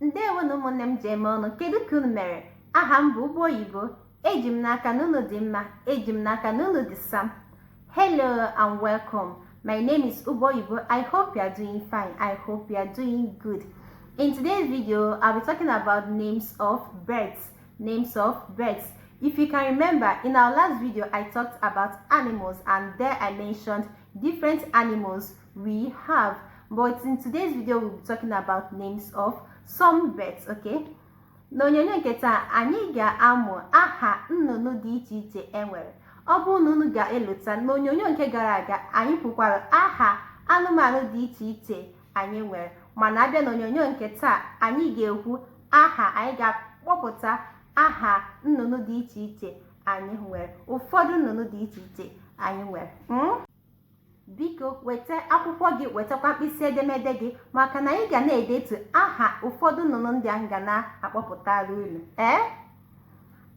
ndewo nụ ụmụnne m ji eme ọnụ kedu ka unu mere aha m bụ ụgbọ oyibo eji m n'aka na unu dị mma eji m n'aka na unu dị sam hello and welcome my name is ụgbọ oyibo i hope you are doing fine i hope you are doing good in today's video i'll be talking about names of birds names of birds if you can remember in our last video i talked about animals and there i mentioned different animals we have but in today's video we'll be talking about names of some birds okay n'onyonyo nke taa anyị ga-amụ aha nnụnụ dị iche iche e nwere ọ bụrụ na unu ga-elota n'onyonyo nke gara aga anyị kwukwara aha anụmanụ dị iche iche anyị nwere mana a bịa n'onyonyo nke taa anyị ga-ekwu aha anyị ga-akpọpụta aha nnụnụ dị iche iche anyị nwere ụfọdụ nnụnụ dị iche iche anyị nwere hmm? biko weta akwụkwọ gị wetakwa mkpịsị edemede gị maka na anyị ga na-edetu aha ụfọdụ nnụnụ ndị anyị ga na-akpọpụtara unu ee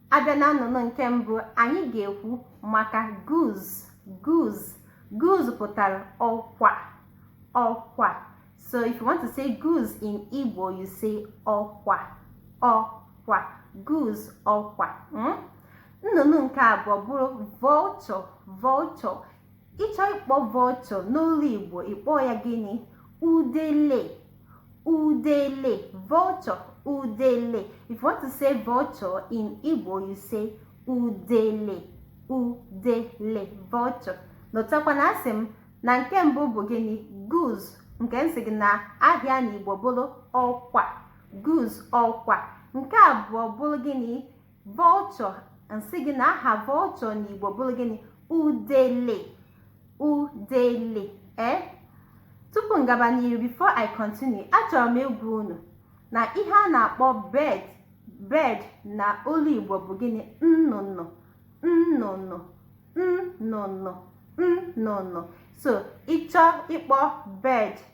a bịa na nnụnụ nke mbụ anyị ga-ekwu maka goose goose goose pụtara ọkwa ọkwa so if you want to say goose in Igbo you say ọkwa ọkwa goose ọkwa hmm? nnụnụ nke abụọ bụrụ vulture vulture ị chọọ ịkpọ vulture n'olu igbo ị kpọọ ya gịnị udele udele vulture udele if you want to say vulture in igbo you say udele udele vulture lotakwa na asị m na nke mbụ bụ gịnị goose nke m sị gị na aha ya na igbo bụrụ ọkwa goose ọkwa nke abụọ bụrụ gịnị vulture m sị gị na aha vulture n'igbo bụrụ gịnị udele udele e tupu m gaba n'iru before i continue achọrọ m ịgwa unu na ihe a na-akpọ bird bird na olu igbo bụ gịnị nnụnụ nnụnụ nnụnụ nnụnụ so ị chọọ ịkpọ bird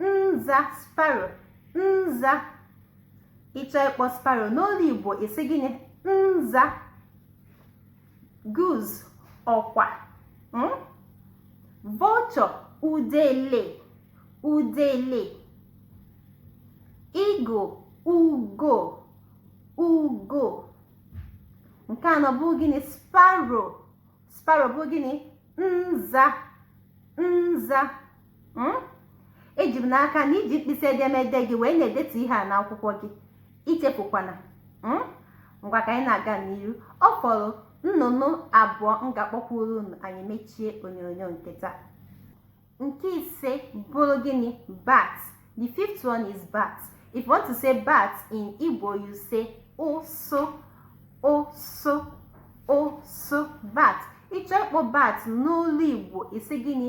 nza sparrow nza ị chọọ ịkpọ sparrow n'olu igbo ị sị gịnị nza goose ọkwa hmm? vulture udele udele eagle ugo ugo nke anọ bụ gịnị sparrow sparrow bụ gịnị nza nza hmm? eji m n'aka na i ji mkpịsị edemede gị wee na-edetu ihe a n'akwụkwọ gị ichefukwana hmm? ngwa ka anyị na-aga n'iru ọ fọrọ nnụnụ abụọ m ga-akpọkwuru unu anyị mechie onyonyo nke taa nke ise bụrụ gịnị bat the fifth one is bat if you want to say bat in Igbo you say ụsụ ụsụ ụsụ bat ị chọọ ịkpọ bat n'olu Igbo ị sị gịnị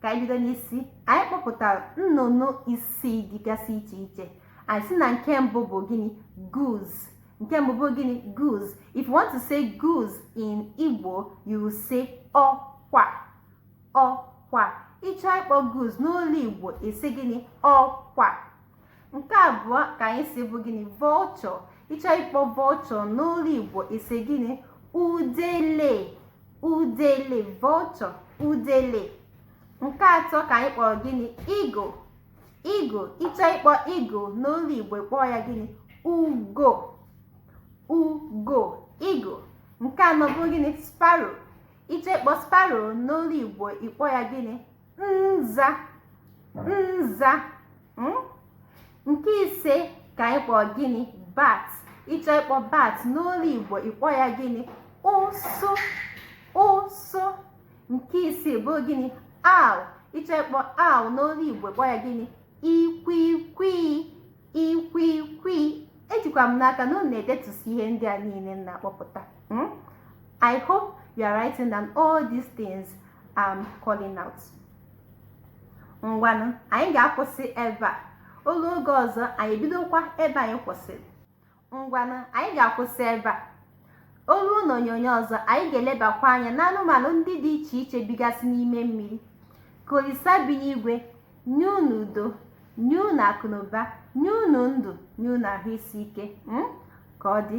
ka anyị bido n'isi anyị kpọpụtara nnụnụ isii dịgasị iche iche anyị sị na nke mbụ bụ gịnị goose nke mbụ bụ gịnị goose if you want to say goose in Igbo you will say ọkwa ọkwa ị chọọ ịkpọ goose n'olu Igbo ị sị gịnị ọkwa nke abụọ ka anyị sị bụ gịnị vulture ị chọọ ịkpọ vulture n'olu igbo ị sị gịnị udele udele vulture udele nke atọ ka anyị kpọrọ gịnị eagle eagle ị chọọ ịkpọ eagle n'olu igbo ị kpọọ ya gịnị ugo ugo eagle nke anọ bụ gịnị sparrow ị chọọ ịkpọ sparrow n'olu igbo ị kpọọ ya gịnị nza nza hmm? nke ise ka anyị kpọọ gịnị bat ị chọọ ịkpọ bat n'olu igbo ị kpọọ ya gịnị ụsụ ụsụ nke isii bụ gịnị owl ị chọọ ịkpọ owl n'olu igbo ị kpọọ ya gịnị ikwikwii ikwikwii ejikwa m n'aka na unu na-edetusi ihe ndị a niile m na-akpọpụta hmm? I hope you are writing down all these things I'm calling out ngwanụ anyị ga-akwụsị ebe a o luo oge ọzọ anyị bidokwa ebe anyị kwụsịrị ngwanụ anyị ga-akwụsị ebe a o luo n'onyonyo ọzọ anyị ga-elebakwa anya n'anụmanụ ndị dị iche iche bigasị n'ime mmiri ka olisa bi n'igwe nye unu udo nye unu akụnụba nye unu ndụ nye unu ahụ isi ike hmm? ka ọ dị